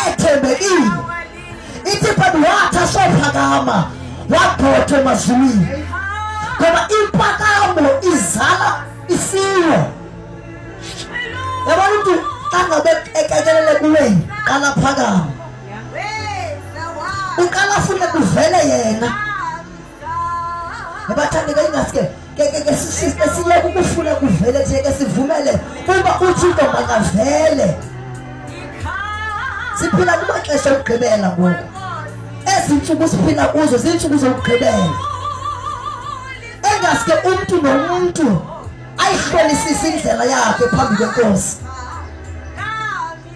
ethembekile ithi but wathi asophakama wagxothwa emazulwini ngoba impakamo izala isilo yabona umntu xa ngabe ekekelele kuweni qala phakama uqala fune kuvele yena Nabathandi kayingaske ngeke sishiste siye kukufuna kuvele nje ke sivumele kuba uthixo makavele siphila kumaxesha okugqibela ngoku ezi ntsuku siphila kuzo ziintsuku zokugqibela engaske umntu nomntu ayihlolisise indlela yakhe phambi kwenkosi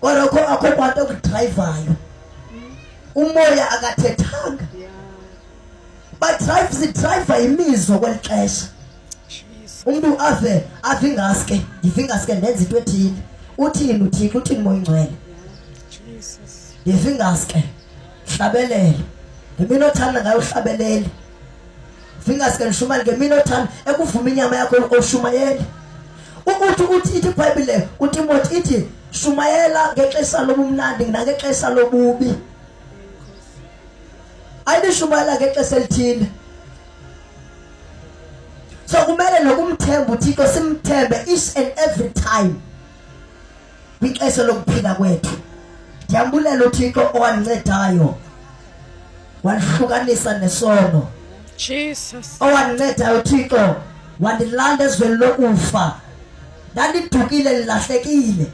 Kodwa kho akho bantu okudrayivayo. Umoya akathethanga. Badrayive sidrayiva imizwa kweli xesha. Umuntu ave avingaske, ndivingaske ndenza into ethile. Uthini uthixo uthini moya ingcwele. Ndivingaske. Hlabelela. Ngemini othanda ngayo uhlabelele. fingers can shumayela ngeminothana ekuvuma inyama yakho oshumayeli ukuthi uthi ithi ibhayibhile utimothi ithi shumayela ngexesha lobumnandi nangexesha lobubi ayibishumayela ngexesha elithile so kumele nokumthemba uthixo simthembe each and every time kwixesha lokuphila kwethu ndiyambulela uthixo owandincetayo wandihlukanisa nesono jesus owandincetayo uthixo wandilanda ezweni lokufa ndandidukile ndilahlekile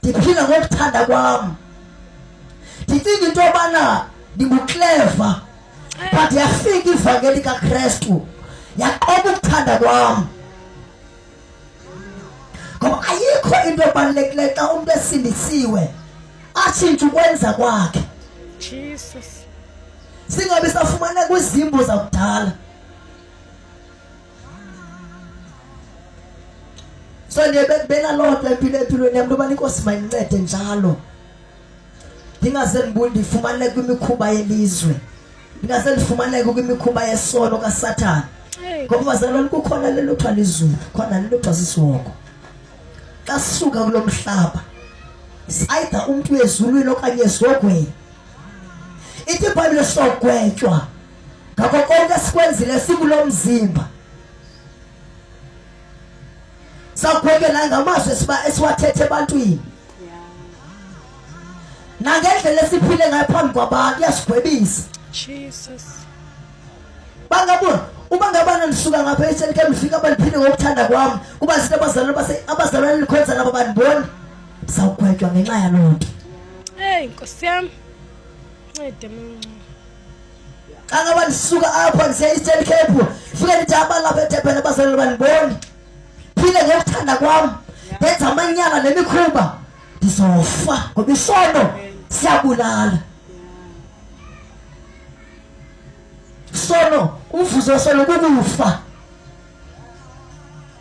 ndiphila ngokuthanda kwam ndicinga into yobana ndingukleva but yafika ivangeli kakrestu yaqoba ukuthanda kwam ngoba ayikho into ebalulekileyo xa umntu esindisiwe atshintshe ukwenza kwakhe jesus singabi safumana kwizimbo zakudala so ndiye benaloo nto empilo empilweni yam ntoba inkosi mayincede njalo ndingaze ndifumaneke kwimikhuba yelizwe ndingaze ndifumaneke kwimikhuba yesono kasathana ngoba bazalwane kukhona le luthiwa lizulu khona le luthiwa sisiwoko xa sisuka kulo mhlaba sayida umntu ezulwini okanye ezogweni ithi ibhayibhile sogwetywa ngako konke esikwenzile sikulo mzimba sakubhekela ngamazwi esiwathethe ebantwini nangendlela esiphile ngayo phambi kwabantu iyasigwebisa bangabona uma ngabana nisuka ngapha eselike mfika baliphinde ngokuthanda kwami kuba zinto abazalwane abazalwane likhonza nabo bandiboni sawugwetywa ngenxa yaloo nto eyi nkosi yam ncede mncu xa ngaba ndisuka apha ndisiya eastern cape fike ndithi abantu lapha etebhele abazaleli bandiboni phile ngokuthanda kwam ndenza amanyala nemikhuba ndizofa ngoba isono siyabulala sono umvuzo wesono kukufa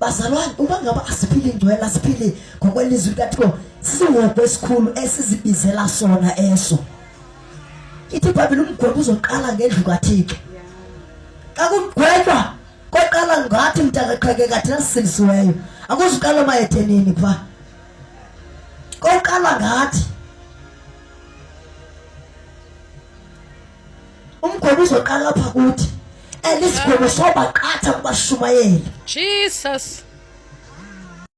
bazalwane uba ngaba asiphili ingcwela siphili ngokwelizwi likathixo sihogo esikhulu esizibizela sona eso ithi ibhayibhile umgwebo uzoqala ngendlu kathixo xa kugwetywa koqala ngathi mntakaxhekeka thina sisilisiweyo akuzuqala mayethenini pha koqala ngathi umgobo uzoqala apha kuthi and isigwebo sobaqatha kubashumayeli jesus